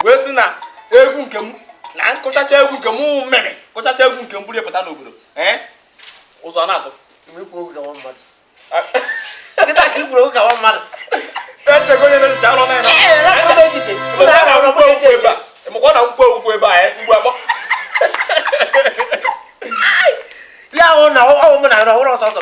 wee sị na egwu nke m na m kụchacha egwu nke m mmemme kụchacha egwu nke m buru pụta n'obodo ee ụzọ na-atụ ikwu okwu ka nwa mmadụ nkịta ka ikwu okwu ka nwa mmadụ echego onye na-echicha ọrụ na-eme echiche emekwa na nkwụ egwu ebe a mgbe akpọ ya ahụ na ọ wụ m na-arụ ọhụrụ ọsọ ọsọ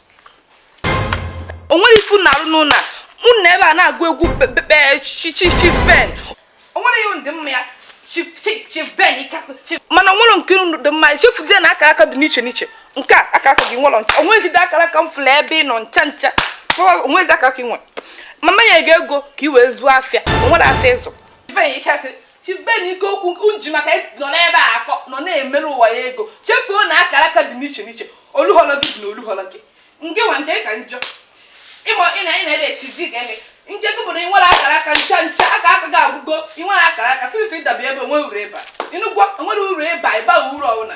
o nwere ife na arụ n'ụlọ a unu ebe a na-agụ egwu chichichiben o nwere ihe ndị mma ya chiben mana o nwere nke unu dị mma chefuzie na akara aka dị n'iche n'iche nke a akara aka gị nwere ncha o nweghịzide akara aka m fụrụ ebe ị nọ ncha ncha o nweghịzide akara aka ị nwere ma m nye gị ego ka i wee zụọ afịa o nwere afịa ị zụ chibeni ike okwu nke unu ji maka ya nọ n'ebe a akọ nọ na-emere ụwa ya ego chefuo na akara aka dị n'iche n'iche oluhọlọ gị dị na oluhọlọ gị nke nwa nke ka njọ ị ma ị na ị na-ebe echi di ga eme nke gị bụ na ị nwere akara aka ncha ncha akara aka gị agwụgo ị nwere akara aka since ị daba ebe o nwe uru ị ba ị nụgo o nwere uru ị ba ị ba uru ọbụla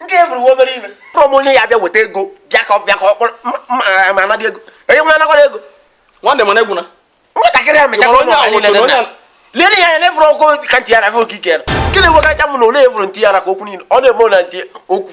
nke fụrụ nwa obere ife kpọrọ m onye ya bịa weta ego bịa ka bịa ka ọ kpọrọ ma anadị ego onye nwe anakwara ego nwanne mana egwu na nwatakịrị ya mechara onye ahụ lere ya ya na efụrụ ọkụ ka ntị ya na fe okike ya nke na-enwegacha m na ole efụrụ ntị ya na ka okwu niile ọ na-eme na ntị okwu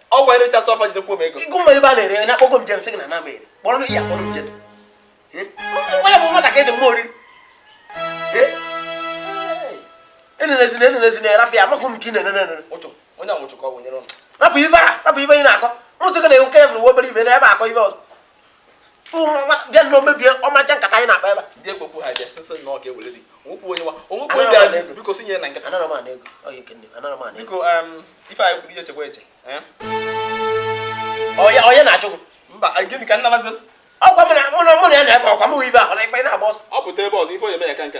ọ gwa ere chasị ọfa jidekwa m ego ịgụ mma ebe a na-ere na akpọgo m jem sị gị na nama ere kpọrọ m ya kpọrọ m jem nwa ya bụ nwatakịrị dị mma oriri enenezina enenezina ya rafụ ya amakwa m nke ị na-enene enene ụchụ onye anwụchụ ka ọ bụ nyere ụnụ rapụ ife a rapụ ife ị na-akọ mụtụka na-enwe nke ya fụrụ obere ife na ebe akọ ife ọzọ bịa nọ mebie ọmarịcha nkata anyị na-akpa ebe ndị egwekwu ha bịa sịsị na ọ ga-ewere dị onwekwu onye nwa onwekwu onye bịara biko si nye na nkata biko ife anyị kwuru ihe chekwa eche onye na-achụ mba gịnị ka nna mazị ọkwa mụ na mụ na ya na-ebe ọkwa mụ ibe ahụ na ikpe na-agba ọsọ ọ pụta ebe ọzọ ife onye mee ya ka nka